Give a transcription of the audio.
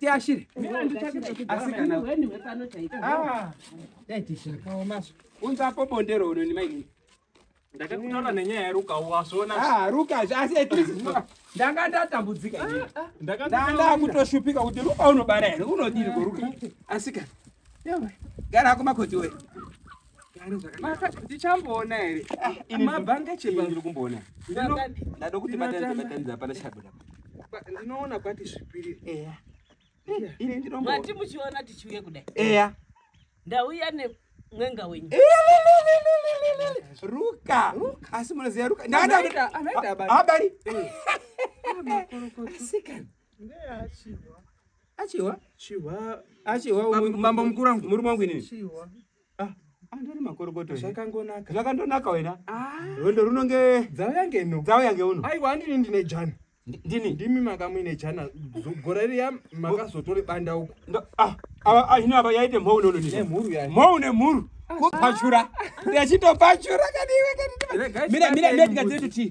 tiashire asi kana ah, dai tishakaomaso unzapo bondero uno nemainini ndakakutaura nenyaya yaruka wasvona ah, ruka asi at least ndanga ndatambudzika ah, ah. ndanga ndakutoshupika kuti ruka unobara here unodiri koruka asika gara kumakoti wee ndichamboona here ah, mabhange chema ndiri kumboona ndada kuti batanidza hapana chabuda ndinoona kwati zvipiriri eya ini ndinombo mati muchiona tichiuye kudai eya ndauya ne mwenga wenyu eh, ruka asi munoziva ruka ndakadaita anoita abari abari sikana achihwa achihwa achihwa mambo mukuru wangu murume wangu inini ah. andori makorokoto zvakangonaka zvakandonaka wena ah. rwendo runonge dzavo yange no dzavo yange uno aiwa andini ndine jana ndini ndimi makamuine jana gora riya makazotori banda uko ah, hino ava yaite mhou nononemhuru mhou nemhuru kupachura ndachitopachura kaniwe kanimira ndikadziri kuti